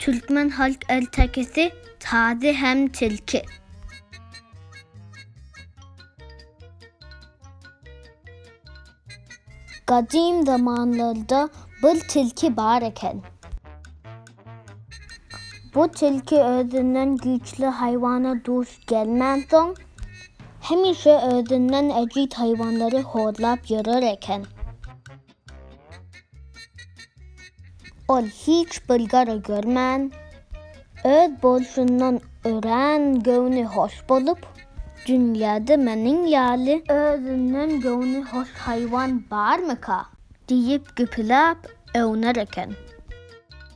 Türkmen halk ertekisi, Tazy hem tilki. Gadym zamanlarda bir tilki bar eken. Bu tilki özünden güýçli haýwana duş gelmänsoň, hemişe özünden ejiz haýwanlary horlap ýörer eken. Ol hiç bir gara görmän, öz bolşundan örän göwni hoş bolup, Dünýäde meniň ýaly özünden göwni hoş haýwan barmyka? diýip gepeläp öwner eken.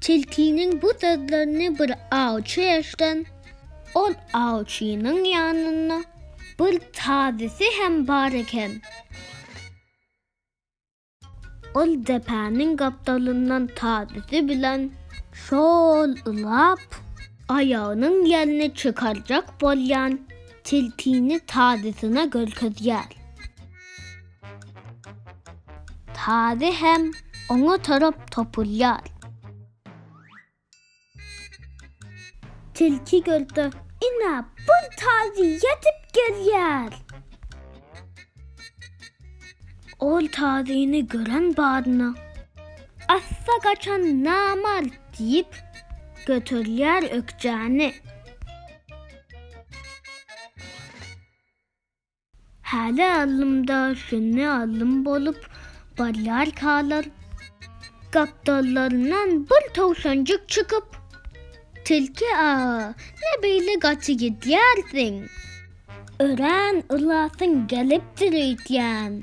Tilkiniň bu sözlerini bir awçy eşden, ol awçynyň ýanynda bir tazisi hem bar eken. Ol depäniň gapdalyndan tazisi bilen şol ylap, aýagynyň ýelini çykarjak bolýan tilkini tazysyna görkezýär. Tazy hem oňa tarap topulýar. Tilki gördi, ine, bir tazy ýetip gelýär. Ol tazyny gören badyna, Assa gaçan namart diýip, göterýär ökjäni. Häli alymda şümme alym bolup barýarkalar, gapdallaryndan bir towşanjyk çykyp, Tilki aga, ne beýle gaty gidýärsiň? Örän ylasyň gelipdir öýdýän.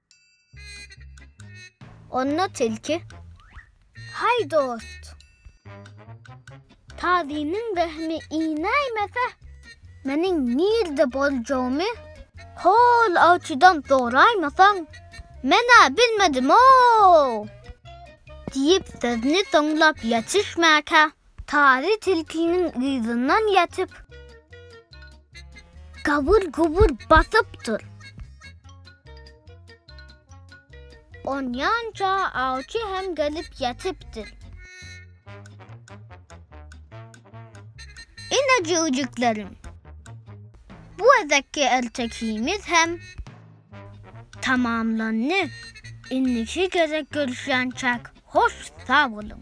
Onda tilki, Hay dost! Tazynyň rehimi inäýmese, meniň nirde boljagymy hol awçydan soraýmasaň, men-ä bilmedim-ow! diýip sözüni soňlap ýetişmäkä, Tazy tilkiniň yzyndan ýatyp. Gabur-gubur basyp dur. Onýança awçy hem gelip ýatypdyr. Ine jüwjüklerim, bu gezekki ertekimiz hem. Tamamlandy. Indiki gezek görüşýänçäk hoş sag boluň.